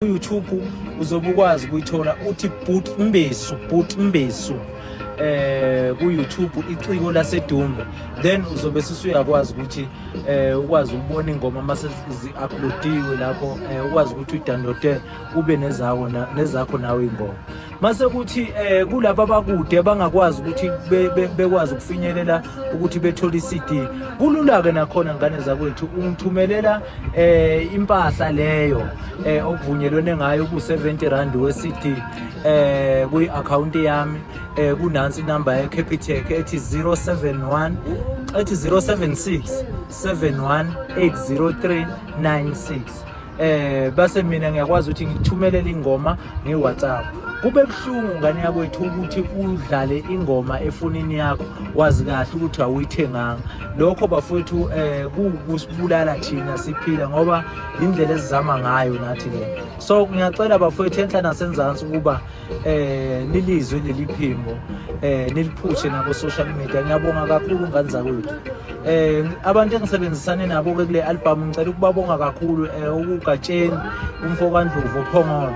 YouTube uzobe ukwazi ukuyithola uthi Boot Mbesu Boot Mbesu eh ku YouTube iciko lasedumbe then uzobe sisuyakwazi ukuthi eh ukwazi ukubona ingoma mase zi uploadiwe lapho eh, ukwazi ukuthi udownloade ube nezakho nezakho nawe ingoma mase kuthi eh kulabo abakude abangakwazi ukuthi bekwazi ukufinyelela ukuthi bethole iCD kulula ke nakhona ngane zakwethu ungithumelela eh impahla leyo eh okuvunyelwene ngayo ku 70 rand we CD eh kwi account yami eh kunansi inamba ye Capitec ethi 071 ethi 076 7180396 eh base mina ngiyakwazi ukuthi ngithumelele ingoma ngeWhatsApp kube buhlungu ngane yakwethu ukuthi udlale ingoma efonini yakho wazi kahle ukuthi awuyithenganga lokho bafowethu eh kusibulala thina siphila ngoba indlela esizama ngayo nathi le so ngiyacela bafowethu enhla nasenzansi ukuba eh nilizwe leli phimbo eh niliphushe nabo social media ngiyabonga kakhulu ngane zakwethu eh abantu engisebenzisane nabo ke kule album ngicela ukubabonga kakhulu eh ukugatsheni umfo kaNdlovu ophongolo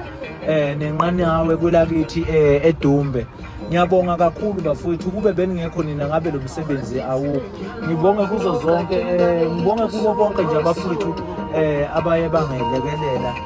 eh nenqanawe kwelakithi eh eDumbe ngiyabonga kakhulu bafowethu kube beningekho nina ngabe lo msebenzi awukho ngibonge kuzo zonke eh ngibonge kubo bonke nje abafowethu eh abaye bangelekelela